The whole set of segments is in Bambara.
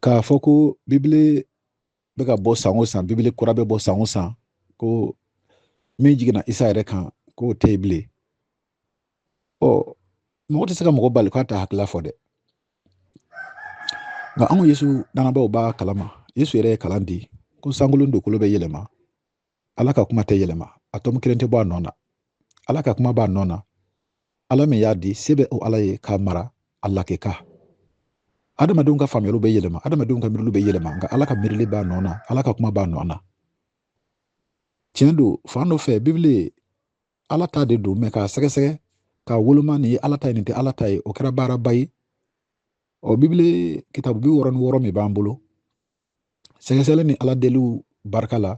k'a fɔ ko bibili bɛ ka bɔ san o san bibili kura bɛ bɔ san o san ko min jiginna isa yɛrɛ kan k'o tɛ yen bilen ɔ mɔgɔ tɛ se ka mɔgɔ bali k'a ta hakilila fɔ dɛ nka anw yesu danabaaw b'a kalama yesu yɛrɛ ye kalan di ko sankolo ni dugukolo bɛ yɛlɛma ala ka kuma tɛ yɛlɛma a tomi kelen tɛ bɔ a nɔ na ala ka kuma b'a nɔ na ala min y'a di se bɛ o ala ye k'a mara a lakika adamadenw ka faamuyaliw bɛ yɛlɛma adamadenw ka miiriliw bɛ yɛlɛma nka ala ka miirili b'a nɔ na ala ka kuma b'a nɔ na tiɲɛ don fan dɔ fɛ bibili ala ta de don mɛ k'a sɛgɛsɛgɛ k'a woloma nin ye ala ta ye nin tɛ ala ta ye o kɛra baaraba ye ɔ bibili kitabu bi wɔɔrɔ ni wɔɔrɔ min b'an bolo sɛgɛsɛgɛli ni ala deliw barika la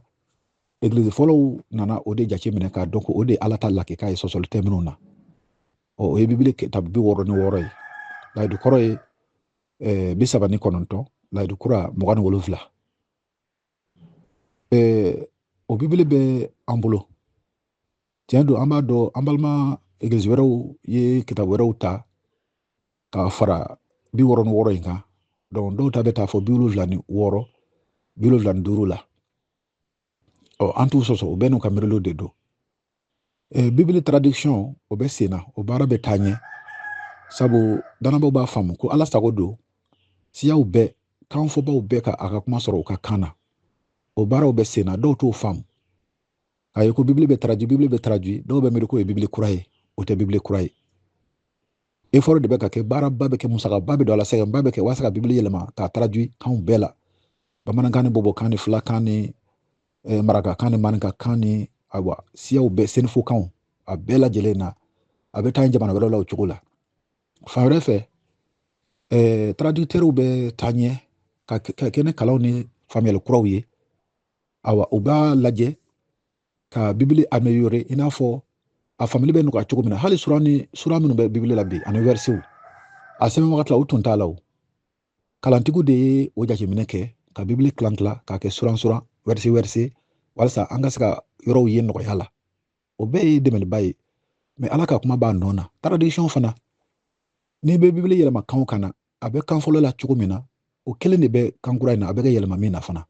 egilizi fɔlɔw nana o de jateminɛ k'a dɔn ko o de ye ala ta lakika ye sɔsɔli tɛ minnu na ɔ o ye bibili kitabu bi wɔɔrɔ ni wɔɔrɔ ye layidu kɔrɔ ye eh, bi saba ni kɔnɔntɔn layidu kura mugan ni wolonfila eh, o bibili bɛ an bolo tiɲɛ don an b'a dɔn an balima egilizi wɛrɛw ye kitabu wɛrɛw ta k'a fara bi wɔɔrɔ ni wɔɔrɔ in kan dɔw ta bɛ taa fɔ bi wolonwula ni wɔɔrɔ bi wolonwula ni duuru la ɔ an t'u sɔsɔ u bɛɛ n'u ka miiriw de don bibili traduction o bɛ sen na o baara bɛ taa ɲɛ sabu danabaw b'a faamu ko ala sago don siyaw bɛɛ kanfɔbaw bɛɛ ka a ka kuma sɔrɔ u ka kan na o baaraw bɛ sen na dɔw t'o faamu k'a ye ko bibili bɛ traduit bibili bɛ traduit dɔw bɛ miiri k'o ye bibili kura ye o tɛ bibili kura ye effort de bɛ ka kɛ baaraba bɛ kɛ musakaba bɛ don a la sɛgɛnba bɛ kɛ walasa ka bibili yɛlɛma k'a traduit kanw bɛɛ la bamanankan ni bɔbɔkan ni filakan ni eh, marakakan ni maninkakan ni awa siyaw bɛɛ senufokanw a bɛɛ lajɛlen na a bɛ taa jamana wɛrɛw la o cogo la fan wɛrɛ fɛ eh, traducteurw bɛ taa ɲɛ ka kɛ ni kalanw ni faamuyali kuraw ye awa u b'a lajɛ ka bibili améliorer i n'a fɔ a faamuli bɛ nɔgɔya cogo min na hali sura ni sura minnu bɛ bibili la bi ani versetw a sɛbɛn wagati la u tun t'a la o kalantigiw de ye o jateminɛ kɛ ka bibili tilan tilan k'a kɛ suran suran verset verset walisa an ka se ka yɔrɔw ye nɔgɔya la o bɛɛ ye dɛmɛliba ye mɛ ala ka kuma b'a nɔ na traduction fana n'i bɛ bibili yɛlɛma kan o kan na a bɛ kan fɔlɔ la cogo min na o kelen de bɛ kan kura in na a bɛ ka yɛlɛma min na fana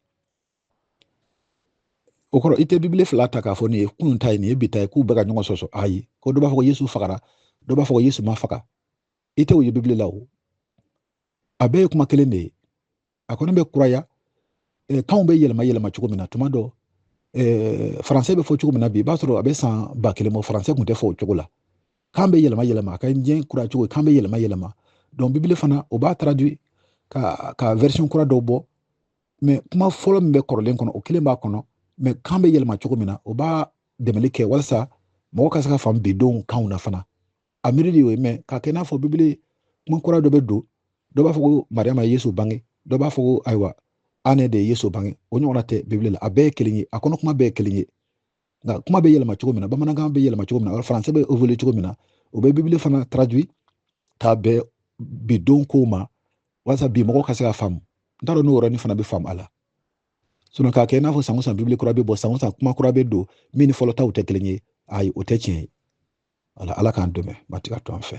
o kɔrɔ i tɛ bibili fila ta k'a fɔ nin ye kunun ta ye nin ye bi ta ye k'u bɛ ka ɲɔgɔn sɔsɔ ayi ko dɔ b'a fɔ ko yesu fagara dɔ b'a fɔ ko yesu ma faga i tɛ o ye bibili la o a bɛɛ ye kuma kelen de ye a kɔni bɛ kuraya eh, kanw bɛ yɛlɛma yɛlɛma cogo min na tuma dɔ eh, faransɛ bɛ fɔ cogo min na bi i b'a sɔrɔ a bɛ san ba kelen bɔ faransɛ tun tɛ fɔ o cogo la kan bɛ yɛlɛma yɛlɛma a ka diɲɛ kura cogo kan bɛ yɛlɛma yɛlɛma donc bibili fana o b'a traduit ka ka version kura dɔw bɔ mais kuma fɔlɔ min bɛ kɔrɔlen kɔnɔ o kelen b'a kɔnɔ mais kan bɛ yɛlɛma cogo min na o b'a dɛmɛli kɛ walasa mɔgɔ ka se k'a faamu bi denw kanw na fana a miiri de y'o ye mais k'a kɛ i n'a fɔ bibili kuma kura dɔ bɛ don dɔ b'a fɔ ko mariyama ye yesu bange dɔ b'a fɔ ko ayiwa ane de ye yesu bange o ɲɔgɔnna tɛ bibili la a bɛɛ ye kelen ye a kɔnɔ kuma bɛɛ ye kelen ye nka kuma bɛ yɛlɛma cogo min na bamanankan bɛ yɛlɛma cogo min na faransɛ bɛ évoluer cogo min na o bɛ bibili fana traduit k'a bɛn bi don kow ma walasa bi mɔgɔw ka se k'a faamu n t'a dɔn n'o yɔrɔnin fana bɛ faamu a la sinon k'a kɛ i n'a fɔ san o san bibili kura bɛ bɔ san o san kuma kura bɛ don min ni fɔlɔ taw tɛ kelen ye ayi o tɛ tiɲɛ ye ala k'an dɛmɛ matigi ka to an fɛ